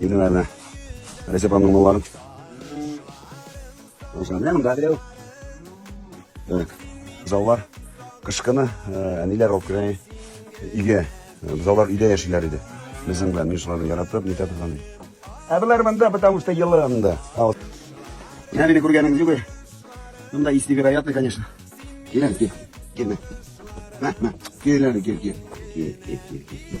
Инде, наверное, Рәҗәп аның малларын. Узган. Менә монда берәү. Так. Заллар кышкыны әниләр алып керә. Иге. Заллар өйдә яшиләр иде. Безнең белән мишаларны яратып, нитә торган. Ә булар монда, потому что елы анда. А вот. Менә мине күргәнең югы. Монда есть невероятно, конечно. Килен, кил. Килме. Мә, мә. Килен, кил, кил. Кил, кил, кил, кил.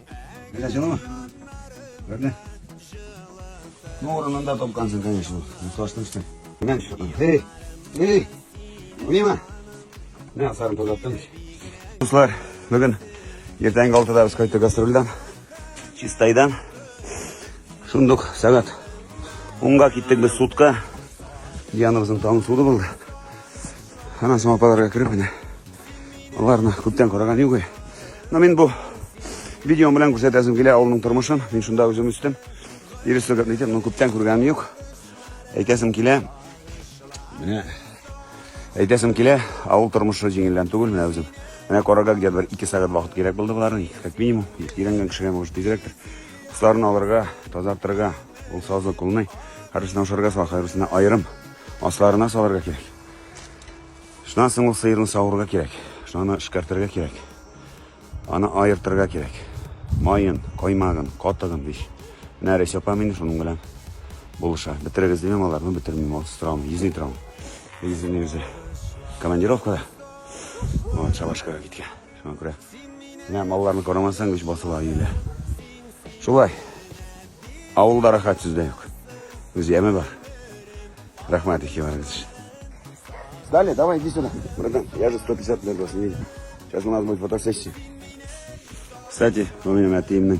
Әнә җылымы? Күрде? Ну, урынында тапкансың, конечно. Ташны эштең. Менә шуны. Эй! Эй! Мима! Менә асарын тозаттым. Дуслар, бүген ертәнге алтыда без кайттык гастрольдан. Чистайдан. Шундук сәгать унга киттек без сутка. Дианабызның таңы суды булды. Анан соң апаларга кереп, менә Аларны күптән караган юк. Но мин бу видеом белән күрсәтәсем килә авылның тормышын. Мин шунда үзем үстем. Ирис сөгәтне итеп, ну күптән күргәнем юк. Әйтәсем килә. Менә әйтәсем килә, авыл тормышы җиңелдән түгел менә үзем. Менә карага где бер 2 сәгать вакыт кирәк булды буларны, как минимум. Ирәнгән кешегә может тизрәктер. Кусларын алырга, тазартырга, ул сазы кулны, хәрбисен ашарга сала, хәрбисен аерым асларына салырга кирәк. Шуннан соң ул сыерны савырга кирәк. Шунаны эшкәртергә кирәк. Аны аертырга кирәк. Майын, каймагын, катыгын биш. Менә Рәйсә апам инде шуның белән булыша. Бетерегез димем аларны, бетермим. Ул торам, йөзни торам. Йөзни үзе. Командировкада. Вот, шабашкага киткән. Шуңа күрә менә малларны карамасаң, үч басыла өйлә. Шулай. Авылда рәхәт сүз дә юк. Үз яме бар. Рәхмәт ихтибарыгыз өчен. Далее, давай, иди сюда. Братан, я же 150 лет вас не видел. Сейчас у нас будет фотосессия. Кстати, помимо Атиимның